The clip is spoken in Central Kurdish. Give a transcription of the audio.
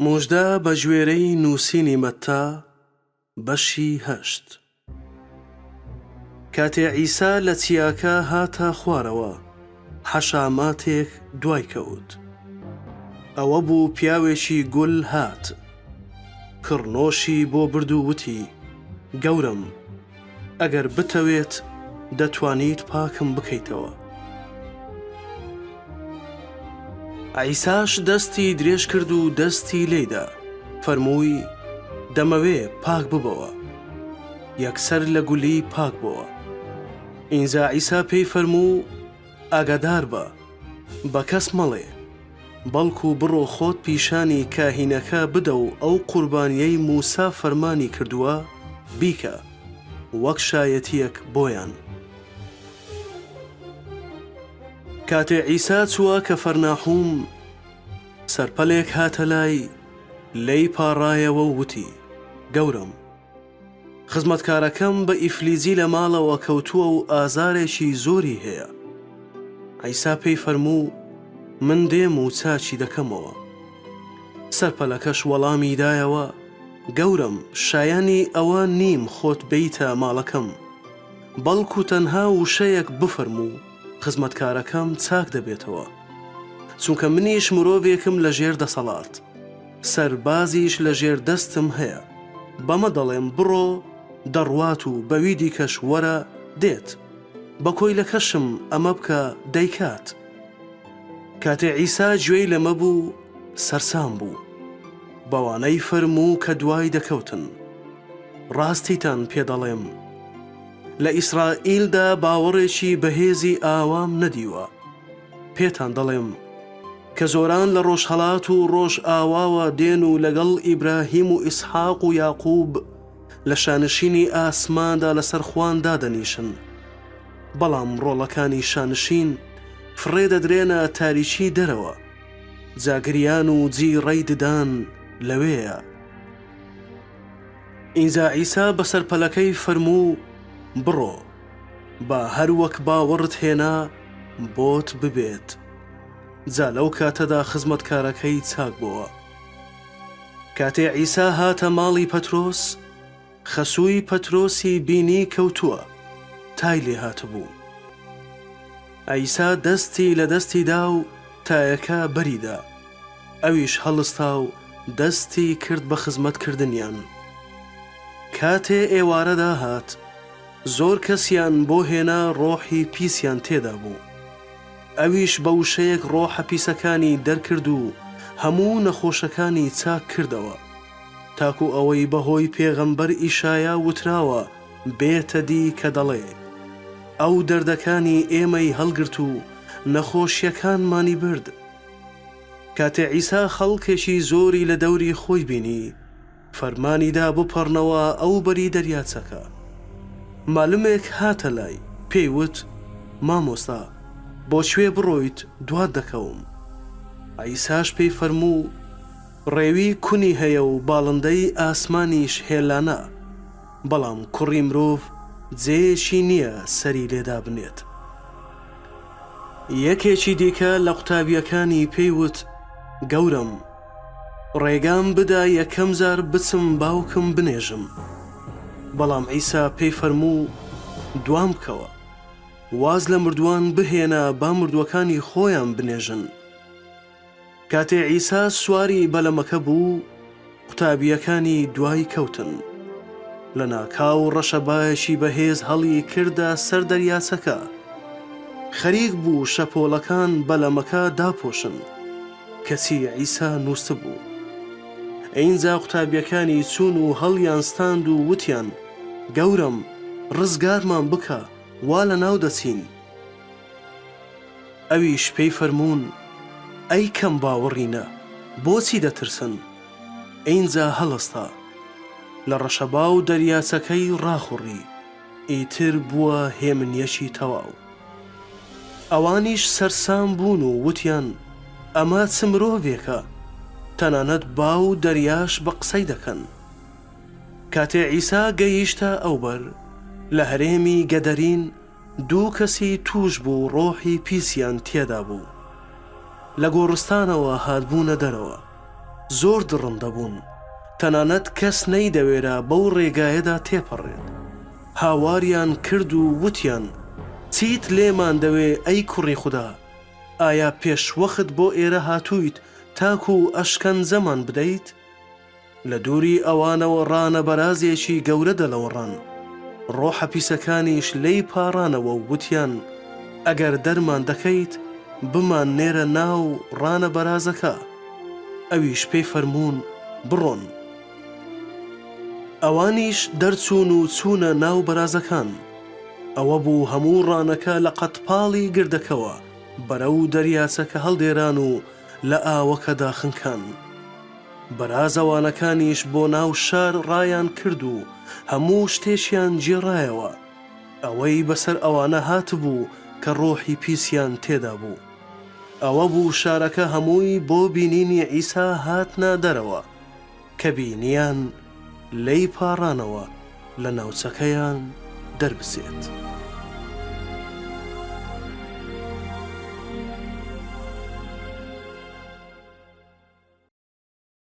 موژدە بەگوێرەی نووسینی مەتا بەشی هەشت. کاتێ عیسا لە چیاکە هاتە خوارەوە، حەشاماتێک دوای کەوت. ئەوە بوو پیاوێکی گول هات. کڕنۆشی بۆ برد و وتی، گەورەم! ئەگەر بتەوێت دەتوانیت پاکم بکەیتەوە. عیساش دەستی درێژ کرد و دەستی لێیدا، فەرمووی، دەمەوێ، پاک ببەوە. یەکسەر لە گولی پاک بۆوە. ئینجا عیسا پێی فەرموو، ئاگاداربە، بە کەس مەڵێ، بەڵکو بڕۆ خۆت پیشانی کاهینەکە بدە و ئەو قوربانییەی موسا فەرمانی کردووە بیکە، وەک شایەتییەک بۆیان. کاتێ عیسا چووە کەفەرناحوم، سەرپەلێک هاتە لای، لێی پاڕایەوە و وتی، گەورەم! خزمەتکارەکەم بە ئیفلیجی لە ماڵەوە کەوتووە و ئازارێکی زۆری هەیە. عیسا پێی فەرموو، من دێم و چاکی دەکەمەوە. سەرپەلەکەش وەڵامی دایەوە، گەورەم، شایەنی ئەوە نیم خۆت بێیتە ماڵەکەم، بەڵکو تەنها وشەیەک بفەرموو، خزمەتکارەکەم چاک دەبێتەوە. چونکە منیش مرۆڤێکم لەژێر دەسەڵات. سەربازیش لە ژێر دەستم هەیە. بەمە دەڵێم بڕۆ، دەڕوات و بەوی دیکەش وەرە، دێت. بە کۆیلەکەشم ئەمە بکە، دەیکات. کاتێ عیسا گوێی لەمە بوو، سەرسام بوو. بەوانەی فەرموو کە دوای دەکەوتن. ڕاستیتان پێ دەڵێم، لە ئیسرائیلدا باوەڕێکی بەهێزی ئاوام نەدیوە. پێتان دەڵێم کە زۆران لە ڕۆژهەڵات و ڕۆژئاواوە دێن و لەگەڵ ئیبراهیم و ئیسحاق و یاقوب لە شانشینی ئاسماندا لەسەر خوان دادەنیشن، بەڵام ڕۆڵەکانی شانشین فڕێ دەدرێنە تاریکی دەرەوە، جا گریان و جیڕەی ددان لەوێیە. ئینجا عیسا بەسەر پەلەکەی فەرموو، بڕۆ. با هەر وەک باوەڕت هێنا بۆت ببێت جا لەو کاتەدا خزمەتکارەکەی چاک بۆوە. کاتێ عیسا هاتە ماڵی پەترۆس خەسووی پەترۆسی بینی کەوتووە تای لێ هاتبوو. عیسا دەستی لە دەستی دا و تایەکە بەری دا ئەویش هەڵستا و دەستی کرد بە خزمەت کردنیان. کاتێ ئێوارە داهات، زۆر کەسیان بۆ هێنا ڕۆحی پیسیان تێدا بوو ئەویش بە وشەیەک ڕۆحە پیسەکانی دەرکرد و هەموو نەخۆشەکانی چاک کردەوە تاکو ئەوەی بە هۆی پێغەمبەر ئیشایا وتراوە بێتە دی کە دەڵێ ئەو دەردەکانی ئێمەی هەڵگرت و نەخۆشیەکانمانی برد کاتێ عیسا خەڵکێکی زۆری لە دەوری خۆی بینی فەرمانی دا بپەڕنەوە ئەو بەری دەریاچەکە. مالمێک هاتە لای، پێی وت، مامۆستا، بۆ کوێ بڕۆیت دوات دەکەوم. عیساش پێی فەرموو، ڕێوی کونی هەیە و باڵندەی ئاسمانیش هێلانە، بەڵام کوڕی مرۆڤ جێیەکی نییە سەری لێ دابنێت. یەکێکی دیکە لە قوتابییەکانی پێی وت، گەورەم! ڕێگام بدا یەکەم جار بچم باوکم بنێژم. بەڵام عیسا پێی فەرموو، دوام بکەوە. واز لە مردووان بهێنە با مردووەکانی خۆیان بنێژن. کاتێ عیسا سواری بەلەمەکە بوو، قوتابییەکانی دوای کەوتن. لەناکاو ڕەشەبایەکی بەهێز هەڵی کردە سەر دەریاچەکە. خەریک بوو شەپۆڵەکان بەلەمەکە داپۆشن. کەچی عیسا نووستبوو. ئینجا قوتابییەکانی چوون و هەڵیانستاند و وتیان، گەورەم، ڕزگارمان بکە، وا لەناو دەچین. ئەویش پێی فەرموون، ئەی کەم باوەڕینە، بۆچی دەترسن؟ ئینجا هەڵستا، لە ڕەشەبا و دەریاچەکەی ڕاخوڕی. ئیتر بووە هێمنیەکی تەواو. ئەوانیش سەرسام بوون و وتیان، ئەمە چ مرۆڤێکە، تەنانەت با و دەریاش بە قسەی دەکەن. کاتێ عیسا گەیشتە ئەوبەر، لە هەرێمی گەدەرین دوو کەسی تووشبوو ڕۆحی پیسیان تێدا بوو، لە گۆڕستانەوە هاتبوونە دەرەوە. زۆر دڕندە بوون، تەنانەت کەس نەیدەوێرا بەو ڕێگایەدا تێپەڕێت. هاواریان کرد و وتیان، چیت لێمان دەوێ ئەی کوڕی خودا؟ ئایا پێشوەخت بۆ ئێرە هاتوویت تاکوو ئەشکەنجەمان بدەیت؟ لە دووری ئەوانەوە ڕانە بەرازێکی گەورە دەلەوەڕان، ڕۆحە پیسەکانیش لێی پاڕانەوە و وتیان، ئەگەر دەرمان دەکەیت بمان نێرە ناو ڕانە بەرازەکە. ئەویش پێی فەرموون بڕۆن. ئەوانیش دەرچوون و چوونە ناو بەرازەکان. ئەوە بوو هەموو ڕانەکە لە قەدپاڵی گردەکەوە بەرەو دەریاچەکە هەڵدێران و لە ئاوەکەدا خنکان. بەرازەوانەکانیش بۆ ناو شار ڕایان کرد و هەموو شتێکیان گێڕایەوە. ئەوەی بەسەر ئەوانە هاتبوو کە ڕۆحی پیسیان تێدا بوو ئەوە بوو شارەکە هەمووی بۆ بینینی عیسا هاتنە دەرەوە، کە بینیان لێی پاڕانەوە لە ناوچەکەیان دەربچێت.